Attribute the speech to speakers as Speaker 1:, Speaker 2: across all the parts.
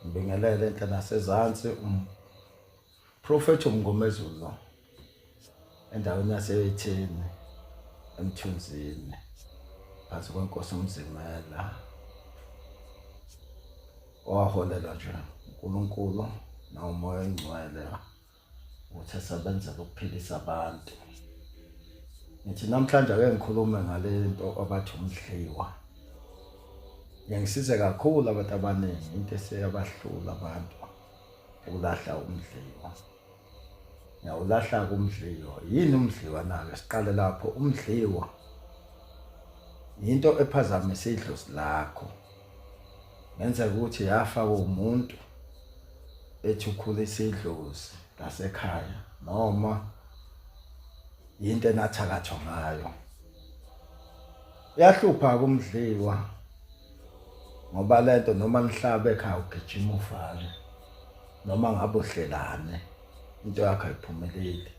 Speaker 1: ngibingelele enhla nasezansi umprofethi um, umngomezulu endaweni yaseyetheni emthunzini phansi kwenkosi umzimela owaholela nje unkulunkulu nawumoya oyingcwele ukuthi esebenzela ukuphilisa abantu ngithi namhlanje ake ngikhulume ngale nto abathi umdliwa ngiyangisize kakhulu abantu abaningi into eseyabahlula abantu ukulahla umdliwa ngiyawulahla kumdliwa yini umdliwa nake siqale lapho umdliwa yinto ephazamise idlozi lakho ngenzeka ukuthi yafa umuntu ethi ukhulisa idlozi lasekhaya noma yinto enathakathwa ngayo yahlupha kumdliwa ngoba lento noma nihlabe ekhaya ugijima ufale noma ngabe uhlelane into yakho ayiphumeleli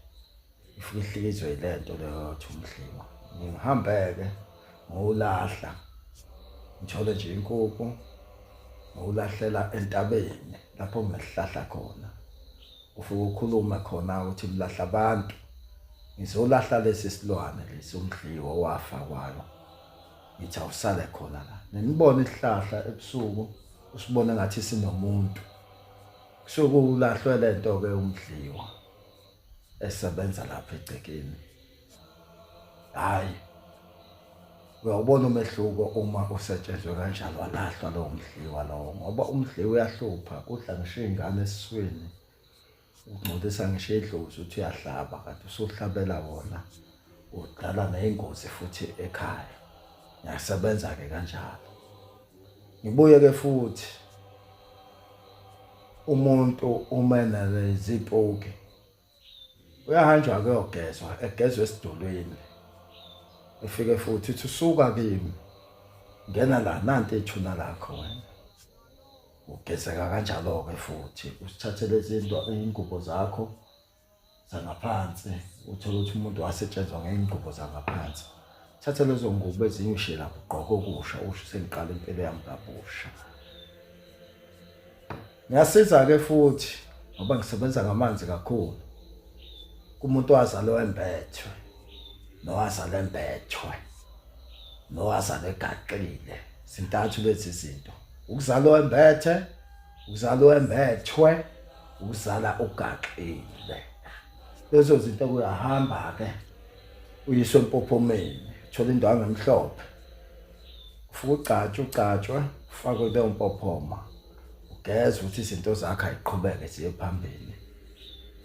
Speaker 1: Ngifihlikidzwe yile nto leyo yothi umdliwa. Ngihambeke ngowulahla ngithole nje inkukhu ngowulahlela entabeni lapho ngihlahla khona. Ufike ukhulume khona ukuthi mlahla abantu. Ngizolahla lesi silwane lesi umdliwa owafa kwayo. Ngithi awusale khona la. Nginibona isihlahla ebusuku usibone ngathi sinomuntu. Kusuke ulahlwe le nto-ke umdliwa. esebenza lapha egcekeni hayi uyawubona umehluko uma usetshenzwe kanjalo walahlwa lowo mdliwa lowo ngoba umdliwa uyahlupha kudla ngisho iy'ngane esiswini ungcolisa ngisho idlozi uthi uyahlaba kanti usuhlabela wona udala neyingozi futhi ekhaya ngiyasebenza ke kanjalo ngibuye ke futhi umuntu uma enezipoki uyahanjwa kuyogezwa egezwe esidulwini efike futhi uthi usuka kimi ngena la nanti ethuna lakho wena ugezeka kanjalo-ke futhi usithathele izinto iy'ngubo zakho zangaphansi uthole ukuthi umuntu wasetshenzwa ngey'ngubo zangaphansi thatha lezo ngubo ezinye ushiye lapho ugqoke okusha usho sengiqala impilo yami kabusha ngiyasiza-ke futhi ngoba ngisebenza ngamanzi kakhulu kumuntu owazalwe wembethwe nowazalwe embethwe nowazalwe egaqile zintathu lezi zinto ukuzalwa wembethe ukuzalwa wembethwe uzala ugaxile lezo zinto kuyahamba ke uyiswe empophomeni thola indawo ngemhlophe ufuka ugcatshwe ugcatshwe ufakwe leyo mpophoma ugeze ukuthi izinto zakhe ayiqhubeke ziye phambili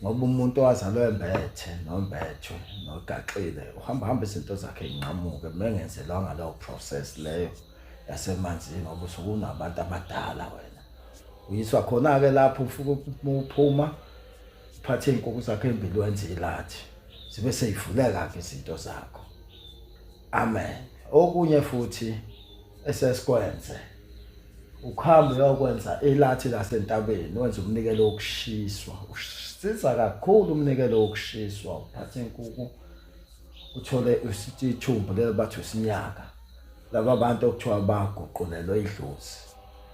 Speaker 1: ngoba umuntu owazalwe embethe nombetho nogaxile uhamba hamba izinto zakhe inqamuke mengenzelwanga leyo process leyo yasemanzini ngoba usukunabantu abadala wena uyiswa khona-ke lapho ufuke uphuma uphathe iy'nkukhu zakho ey'mbili wenze ilathi zibe seyivuleka-ke izinto zakho amen okunye futhi esesikwenze ukuhamba uyokwenza ilathi lasentabeni wenza umnikelo wokushiswa usiza kakhulu umnikelo wokushiswa uphathe inkukhu uthole isithumbu lelo bathi usinyaka laba bantu okuthiwa baguqulelwe idlozi